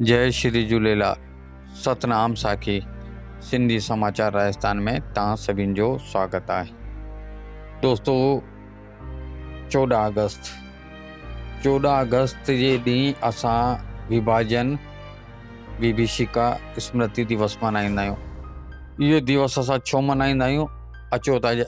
جئي شري جهوليلال ستنام ساکي سنڌي سماچار راجستان ۾ توهان سڀين جو سواگت آهي دوستو چوڏهن آگسٽ چوڏهن آگسٽ جي ڏينهن اسان وڀاجن ويڀيشيڪا اسمرتي ديوس ملهائيندا آهيون اهو ديوس اسان ڇو ملهائيندا آهيون اچو ته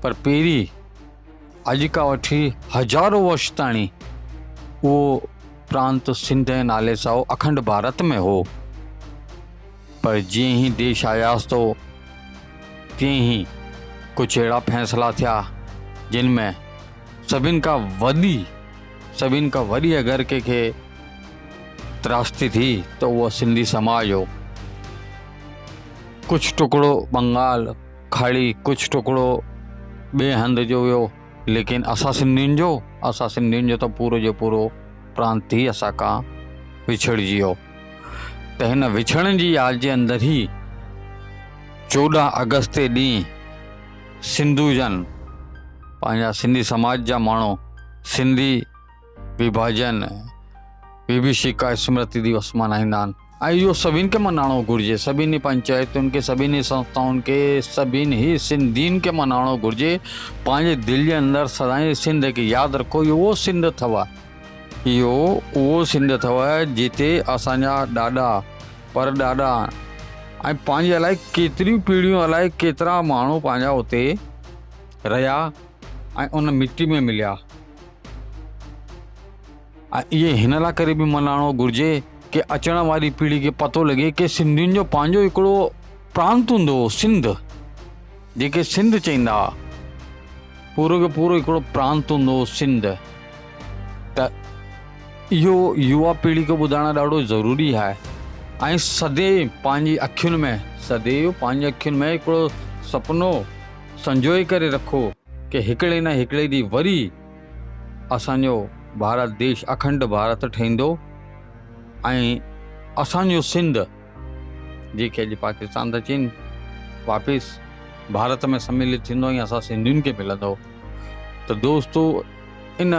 پر پهرين اڄ کان وٺي هزارون ورش تائڻي اهو پرانت سنڌ جي نالي سان هو اکنڊ ڀارت ۾ هو پر جيئن هي ديش آياس ٿو تيئن هي ڪجهه اهڙا فيصلا ٿيا جن ۾ سڀن کان وڏي سڀن کان وڏي اگر ڪنهن کي تراشتي ٿي ته اهو سنڌي سماج هو ڪجهه ٽڪڙو بنگال کاڙي ڪڇ ٽڪڙو ٻئي هنڌ جو ويو ليڪن اسان سنڌين جو اسان سنڌين جو ته پورو جو پورو پرانت ئي اسان کان وڇڙجي ويو ته هن وڇڙن جي ياد جي اندر ئي چوڏهن اگست تي ڏينهن سنڌو جن پنهنجا سنڌي سماج جا ماڻهو سنڌي وڀاجن، وڀيشيڪا اسمرتي ديوس ملهائيندا آهن ۽ اهو سڀني کي ملهائڻو گهرجي، سڀني پنچائتن کي، سڀني سنسٿائن کي، سڀني سنڌين کي ملهائڻو گهرجي، پنهنجي دل جي اندر سدائين سنڌ کي ياد رکو، اهو اهو سنڌ اٿو، اهو اهو سنڌ اٿو جتي اسان جا ڏاڏا، پر ڏاڏا ۽ پنهنجي الائي ڪيتريون پيڙهيون الائي ڪيترا ماڻهو پنهنجا اتي رهيا ۽ ان مٽي ۾ مليا. ۽ اهي هن لاء ڪري به ملهائڻو گهرجي ڪي اچڻ واري پيڙهي کي پتو لڳي ڪي سنڌين جو پنهنجو هڪڙو پرانت هوندو هو سنڌ جيڪي سنڌ چئيندا ها پورو کي پورو هڪڙو پرانت هوندو هو سنڌ ته اهو يوا پيڙهي کي ٻڌائڻ ڏاڍو ضروري آهي ۽ سدي پنهنجي اکين ۾ سدي پنهنجي اکين ۾ هڪڙو سپنو سنجوئي ڪري رکو ڪي هڪڙي نه هڪڙي ڏينهن وري اسان جو ڀارت ديش اکنڊ ڀارت ٺهندو ۽ اسان جو سنڌ جنهن کي اڄ پاڪستان ٿا چين واپس ڀارت ۾ سميلت ٿيندو ۽ اسان سنڌين کي ملندو ته دوستو ان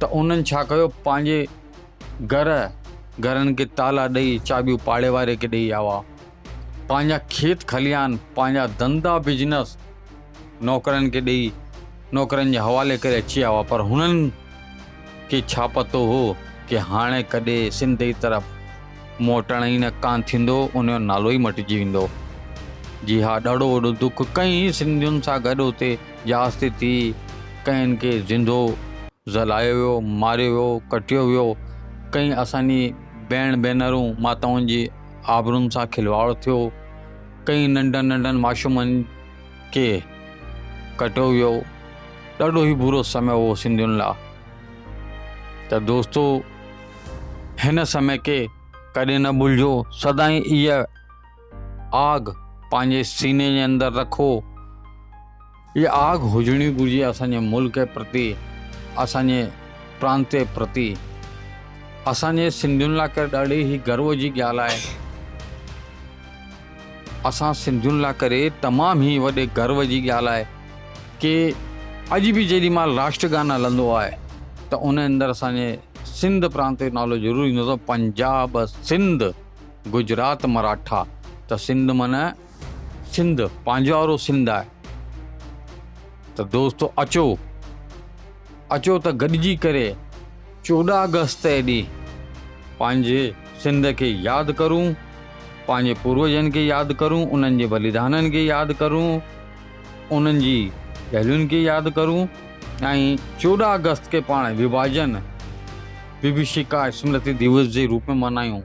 ته انهن ڇا ڪيو پنهنجي گهر گهرن کي تالا ڏئي چاٻيون پاڙي واري کي ڏئي آوا پنهنجا کيت کليان پنهنجا ڌندا بزنس نوڪرن کي ڏئي نوڪرن جي حوالي ڪري اچي آوا پر هنن کي ڇا پتو هو ڪي هاڻي ڪڏهن سنڌ ئي طرف موٽڻ ئي نه ڪانه ٿيندو انهيو نالو ئي مٽجي ويندو جي ها ڏاڍو وڏو دک ڪئين سنڌين سان گڏ اتي جهاز تي ٿي ڪئين کي زندو ذلايو ويو ماريو ويو ڪٽيو ويو ڪئين اسانجي بهڻ ڀينرون ماتائن جي آبرون سان کلواڙ ٿيو ڪئين ننڍن ننڍن معشومن کي ڪٽيو ويو ڏاڍو ئي برو سمي هو سنڌين لا ته دوستو هن سمي کي ڪڏهن نه ڀلجو سدائين اها آگ پنهنجي سيني جي اندر رکو. اها آگ هجڻي گهرجي اسان جي ملڪ پرتي، اسان جي پرانت پرتي. اسان جي سنڌين لاء ڪري ڏاڍي هي گرو جي ڳالهه آهي. اسان سنڌين لاء ڪري تمام هي وڏي گرو جي ڳالهه آهي ڪي اڄ به جيڏي مال راشٽر گان هلندو آهي ته ان اندر اسان جي سنڌ پرانت جو نالو ضرور ايندو اٿو پنجاب سنڌ. گجرات مراٺا ته سنڌ معنيٰ سنڌ پنهنجو آرو سنڌ آهي ته دوستو اچو اچو ته گڏجي ڪري چوڏهن اگست جي ڏينهن پنهنجي سنڌ کي ياد ڪرون پنهنجي پوروجن کي ياد ڪرون انهن جي بليدانن کي ياد ڪرون انهن جي ڳالهين کي ياد ڪرون ۽ چوڏهن اگست کي پاڻ وڀاجن وڀشيڪا اسمرتي ديوس جي روپ ۾ ملهايون